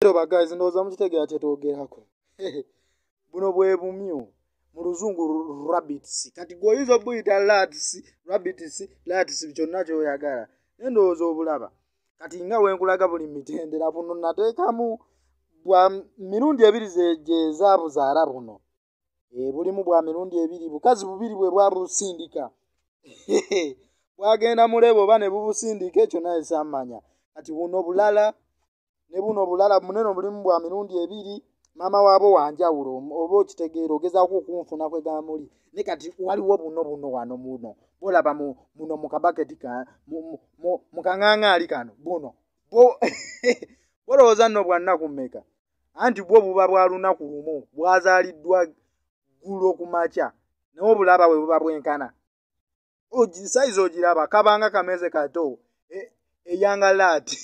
eroba guys ndowooza mukitegera kyetwogerako buno bwe bumyu mu luzungu rabbits kati gwe oyinza obuyita lats rabbits lats kyonna kyoyagala naye ndowooza obulaba kati nga wenkulaga buli mitendera buno nateekamu bwa mirundi ebiri gyezaabuzaala buno eh, bulimu bwa mirundi ebiri bukazi bubiri bwe bwabusindika bwagenda mulebe oba ne bubusindika ekyo naye samanya kati buno bulala ne buno bulala munene obulimu bwa mirundi ebiri maama waabo wanjawulo oba okitegeera ogezaako okunfuna kwegamba muli ne kati waliwo buno buno wano muno bolaba muno mu kabaketi mu kaŋaŋaali kano buno bolowooza nno bwannaku mmeka anti bwo buba bwa lunaku lumu bwazaaliddwa ggulo ku makya naye obulaba bwe buba bwenkana sayizi ogiraba kabanga kameze kato e, eyanga laati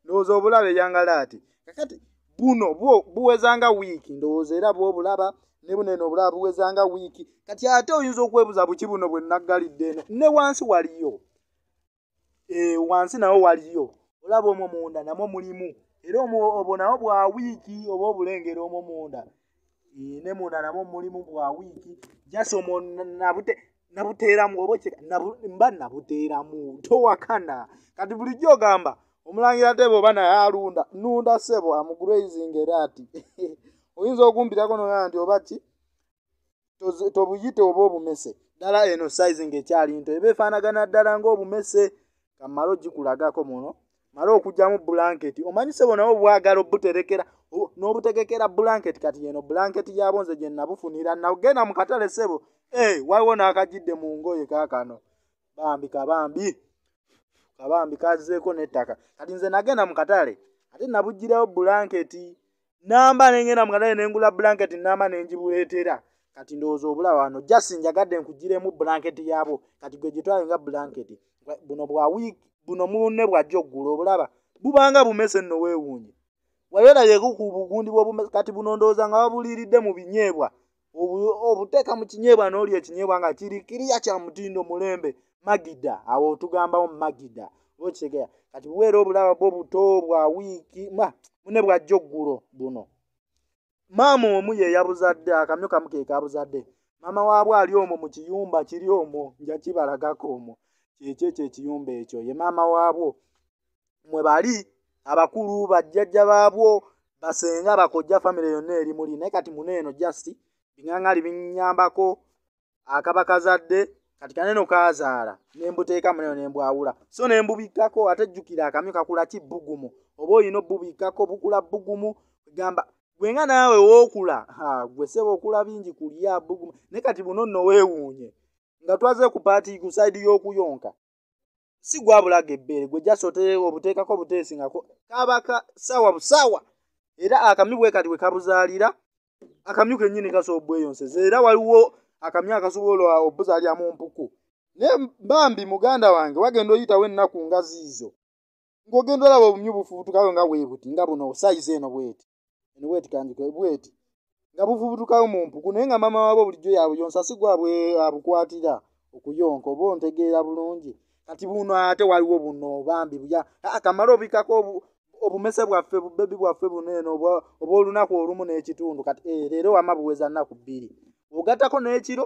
ndowooza obulaba eyanga laati kakati buno buwezanga wiiki ndowooza era bwobulaba ne buno eno obulaba buwezanga wiiki kati ate oyinza okwebuza buki buno bwe naggalidde eno ne wansi waliyo eh, wansi nawo waliyo olaba omwo munda namwo mulimu era obwo nawo bwa wiiki oba obulengera omwo munda eh, ne munda namwo mulimu bwa wiiki jasi omwo nabute nabuteeramu oba okyeka mba nabuteeramu towakana kati bulijjo ogamba omulangira tebe oba naye alunda nunda sebo amugrazing era ati oyinza okumpitako nogaa nti oba ki tobuyite oba obumese ddala eno size nga ekyali nto eba efaanagana ddala ngaobumese kamala ogikulagako muno mala okugyamu bulanketi omanyi sebo nawe obwagala obuterekera n'obutegekera bulanketi kati yeno bulanketi yabo nze gye nabufunira nagenda mu katale sebo ee eh, waliwo n'akajidde mu ngoye kakano bambi kabambi kabambi kazeeko n'ettaka kati nze nagenda mu katale ate nabugirawo bulanketi namba nengenda mukatale nengula blanket namba nenjibuletera kati ndowooza obula wano just njagadde nkugiremu blanket yabwo kati gwe gyetwale nga blanket buno bwa week buno munne bwajja okugula obulaba bubanga bumese nno weewuunye wayolabyeko ku bugundi bwobumese kati buno ndowooza nga babuliiridde mu binyeebwa obuteeka mu kinyeebwa n'olya ekinyeebwa nga kiri kiriya kya mutindo mulembe magida awo otugambawo magida okitegeera kati buweera obulaba bwo buto bwa wiiki ma mune bwajja oggulo buno maama omu ye yabuzadde akamyo kamu ke kabuzadde maama waabwe ali omwo mu kiyumba kiri omwo nja kibalagako omwo kyekyo ekyo ekiyumba ekyo ye maama waabwo mwe bali abakulu bajjajja baabwo basenga bakojja famire yonna eri muli naye kati mune eno just biŋaŋali binyambako akaba kazadde kati kaneno kazaala nembuteeka muneno nembwawula so nembubikkako ate jjukira akamyu kakula ki bbugumu oba olina obubikkako bukula bbugumu gamba gwenga naawe wookula gwe seba okula bingi kulya bbugumu naye kati buno nno weewuunye nga twaze ku paati ku saidi y'okuyonka si gwabulaga ebbeere gwe jasi oteeka obuteekako obuteesi nga kaba ka saawa busaawa era akamyu bwe kati bwe kabuzaalira akamyu kennyini kasobola obweyonseza era waliwo akamyu akasobola obuzaalira mu mpuku naye bambi muganda wange wagenda oyitawo ennaku nga ziizo ng'ogenda olaba obumyu bufubutukayo nga weebuti nga buno sayizi eno bweti eno bweti kanjike bweti nga buvubutukawo mu mpuku naye nga maama waabwe bulijjo yabuyonsa si gwabwe abukwatira okuyonka oba ontegeera bulungi kati buno ate waliwo buno bambi buya akamala obikako obumese bwaffe bubebi bwaffe buno eno oba olunaku olumu n'ekitundu kati eh, leero wama buweza nnaku bbiri ogattako n'ekiro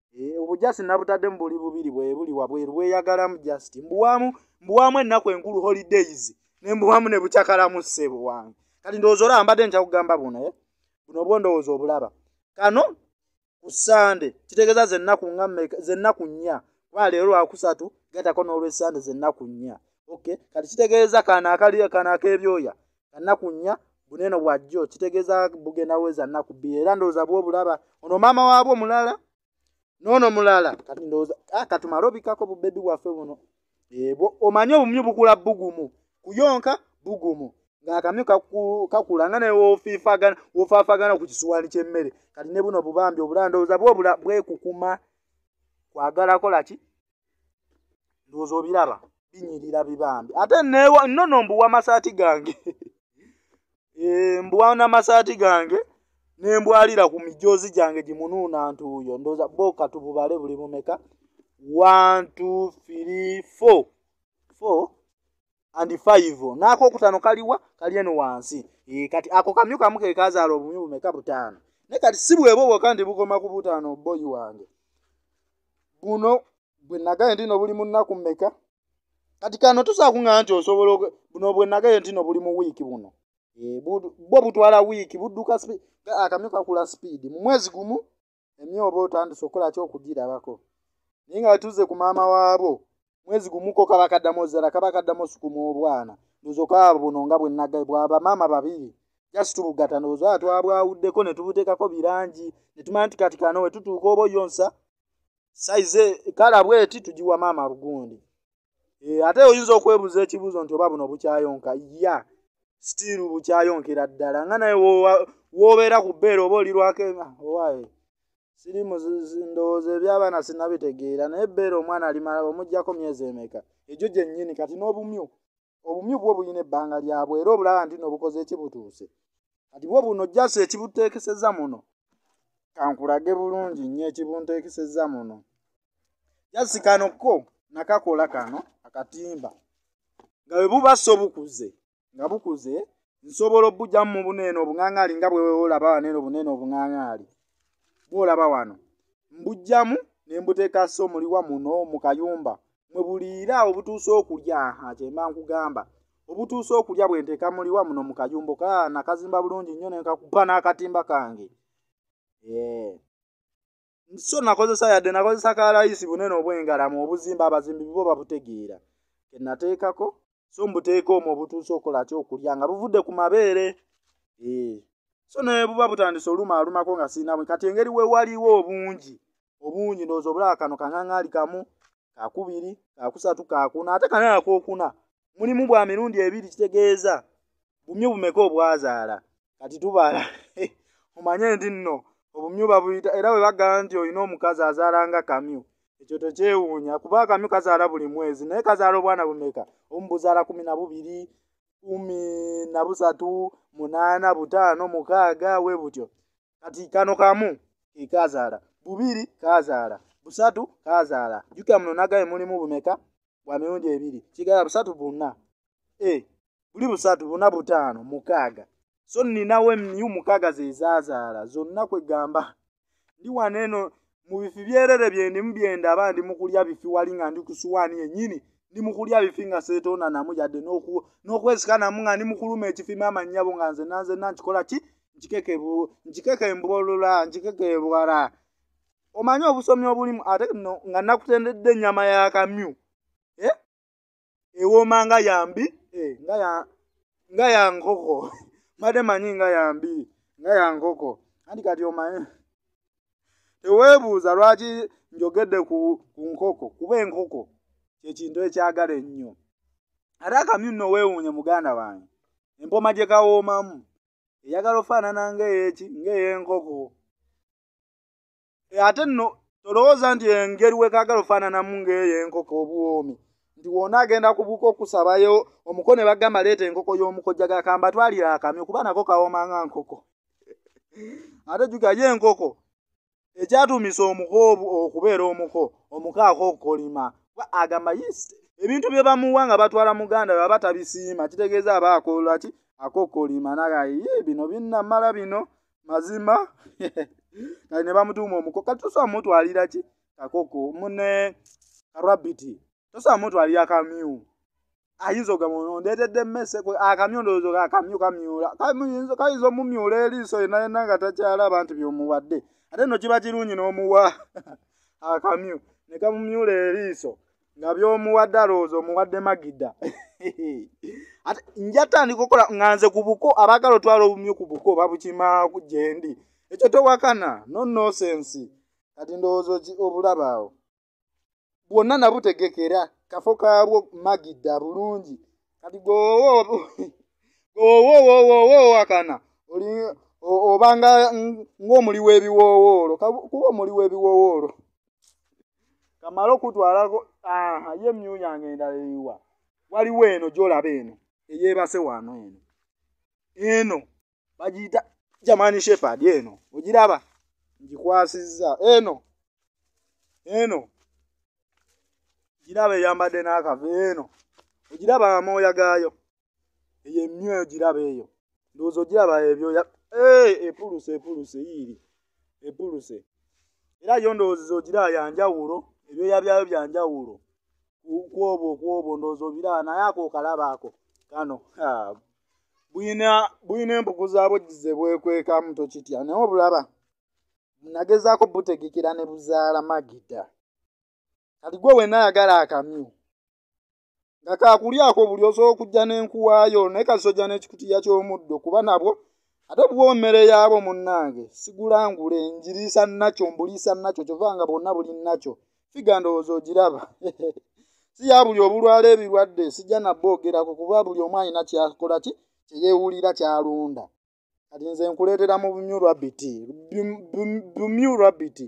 eh, obujasi nabutaddemu buli bubiri bwebuli wabweru bweyagalamu just mbuwamu mbuwamu ennaku enkulu holidays nembuwamu nebucakalamu ssebo wange kati ndowooza olaba mbadde nkya kugamba buno eh? buno obwo ndowooza obulaba kano ku sande kitegeeza zennaku nga zennaku nnya kuba leero lwakusatu gatako n'olwesande zennaku nnya okay kati kitegeeza kano akali kano ak'ebyoya kanaku nnya buneno bwa jjo kitegeeza bugenda weza nnaku bbiri era ndowooza bwo obulaba ono maama waabwo mulala noono mulala kati ndowooza ah, katumale obikako bubebi bwaffe buno ebwo eh, omanye obumyu bukula bugumu kuyonka bugumu ng'akamyu kakula nga newofaafagana ku kisuwaani ky'emmere kati ne buno bubambi obulala ndowooza bwo bwekukuma kwagala kola ki ndowooza obiraba binyirira bibambi ate nono mbuwa amasaati gange eh, mbuwa namasaati gange nembwalira ku mijoozi gyange gimunuuna ntuuyo ndowooza boka tububale buli mumeka one two three four four and five naako okutano kaliwa kali eno wansi e, kati ako kamyu kamu kekazaala obumyu bumeka butaano naye kati si bwebo bwoka ndi bukoma ku butaano boyi wange buno bwe nagaye ndino buli mu nnaku mmeka kati kano tusakuŋa nti osobola buno bwe nagaye ntino buli mu wiiki buno e, bwo butwala wiiki budduka akamyu kakula sipiidi mu mwezi gumu emye oba otandise okukola ki okugirabako naye nga tuze ku maama waabo mwezi gumuko kaba kaddamu ozala kaba kaddamu osukuma obwana ndozoka buno nga bwenagae bwaba maama babiri just tubugata ndozo atwabwawuddeko netubutekako birangi netumanya nti kati kano wetutuuka oba oyonsa saize kala bweti tugiwa maama bugundi eh, ate oyinza okwebuza ekibuzo nti oba buno bukyayonka ya yeah. still bukyayonkera ddala nga naye wobeera ku bbeera oba olirwako ah, owaye siri ndowooza ebyabaana sinabitegeera naye ebbeera omwana alimala omugjako myezi emeka egyo gyennyini kati n'obumyu obumyu bwo bulina ebbanga lyabwe era obulaba nti nobukoze ekibutuuse kati bwo buno jasi ekibuteekeseza muno kankulage bulungi nnyo ekibunteekeseza muno jasi kano ko nakakola kano akatimba nga bwe buba so bukuze nga bukuze nsobola obujamu mu buneeno obuŋaŋaali nga bweweolaba waneeno obuneeno obuŋaŋaali bwolaba wano mbujjamu ne mbuteeka so muliwa muno mu kayumba mwe buliira obutuusa okulya aha kyemba nkugamba obutuusa okulya bwe nteeka muliwa muno mu kayumba ka nakazimba bulungi nnyo ne nkakuba n'akatimba kange ee eh. so nakozesa yadde nakozesa ka layisi bunene obwengalamu obuzimba abazimbi bibo babutegeera kenateekako so mbuteeka omwo obutuusa okola ki okulya nga buvudde ku mabeere ee so naye buba butandise oluma alumako nga siinamu kati engeri wewaliwo obungi obungi ndowooza obulaba kano kaŋaŋaali kamu kakubiri kakusatu kakuna ate kanaye akokuna mulimu bwa mirundi ebiri kitegeeza bumyu bumeka obwazaala kati tubala omanye nti nno obumyu babuyita era bwe bagamba nti olina omukazi azaala nga kamyu ekyo tekyewuunya kuba akamyu kazaala buli mwezi naye kazaala obwana bumeka omu buzaala kumi na bubiri kumi na busatu munaana butaano mukaaga we butyo kati kano kamu ke kaazaala bubiri kaazaala busatu kaazaala jjukira muno nagaye mulimu bumeka bwa mirundi ebiri kigala busatu buna e buli busatu buna butaano mukaaga so nninawo emiyu mukaaga ze zaazaala zonna kwegamba ndi wano eno mu bifi byerere byendimu byendaba ndi mu kulya bifi wali nga ndi ku suwaani yennyini ndi mu kulya bifi nga seetoonanamu yadde n'okwesikanamu nga ndi mu kuluma ekifi maama nnyabo nga nze nanzenna nkikola ki nkikeke embolola nkikeke ebwala omanyi obusomi obulimu ate no nga nakutendedde ennyama ya kamyu eh? ewooma nga yambi eh, nga ya nkoko mbadde manyi nga yambi nga ya nkoko anti kati omanyi teweebuuza lwaki njogedde ku nkoko kuba enkoko kyekintu ekyagala ennyo ate akamyu nno weewuunye muganda wange empoma gye kawoomamu eyagala ofaanana ngaeyeki ngaey'enkoko e, ate nno tolowooza nti engeri wekaagala ofaananamu ng'eyo enkoko obuwoomi nti wona agenda kubuuka okusabayo omuko ne bagamba leeta enkoko y'omukojjaga kamba twalira akamyo kuba nako kawooma nga nkoko ate juga ye enkoko ekyatuumisa omuko okubeera omuko omuko akokolima agamba yisi ebintu bye bamuwa nga batwala muganda baba tabisiima kitegeeza aba akolaki akokolima nagaye bino binnamala bino mazima kati ne bamutuuma omuko kati tosobola mutwalira ki kakoko mune karabiti tosobola mutwalira kamyu ayinza ogamba ondeetedde mmese akamyu ndowooza oga akamyu kamyula kayinza omumyula eriiso yena yena nga takyalaba nti byomuwadde ate no kiba kirungi n'omuwa akamyu ne kamumyula eriiso nga byomuwadde alowooza omuwadde magida ate njatandika okukola nga nze ku buko abaagala otwala obumyu ku buko babukima gyendi ekyo towakana no nosensi kati ndowooza obulaba awo bwonna nabutegekera kafo kaabwo magida bulungi kati gwowowowowowoakana obanga ng'omuli w'ebiwoowoolo kuba omuli w'ebiwoowoolo kamala okutwalako ye myu yange endala eyiwa waliwo eno gyolaba eno eyebase wano eno eno bagiyita jamani shepard eno ogiraba ngikwasizza eno eno giraba eyambadde n'akava eno ogiraba amooya gaayo eyo emyoyo giraba eyo ndowooza ogiraba ebyoya eh, epuluse epuluse yiiri epuluse era yo ndowooza ogira yanjawulo ebyoya byayo byanjawulo kwobo kwobo ndowooza obiraba naye ako okalaba ako kano buyina buyina embugu zaabwo gizebwekwekamu tokitya naye obulaba nagezaako butegekera ne buzaala magida kati gwe wenna ayagala akamyu nga kaakulyako buli osobola okujja n'enkuwaayo naye kasojja n'ekikutiya ky'omuddo kuba nabwo ate buwa emmere yaabo munnange sigulangule njiriisa nakyo mbuliisa nakyo kyova nga bwonna buli nakyo figa ndowooza ogiraba si ya buli obulwala ebirwadde sijja nabba ogerako kuba buli omu alina kyakola ki kyeyewulira kyalonda kati nze nkuleetera mu bumyu rabiti bumyu rabiti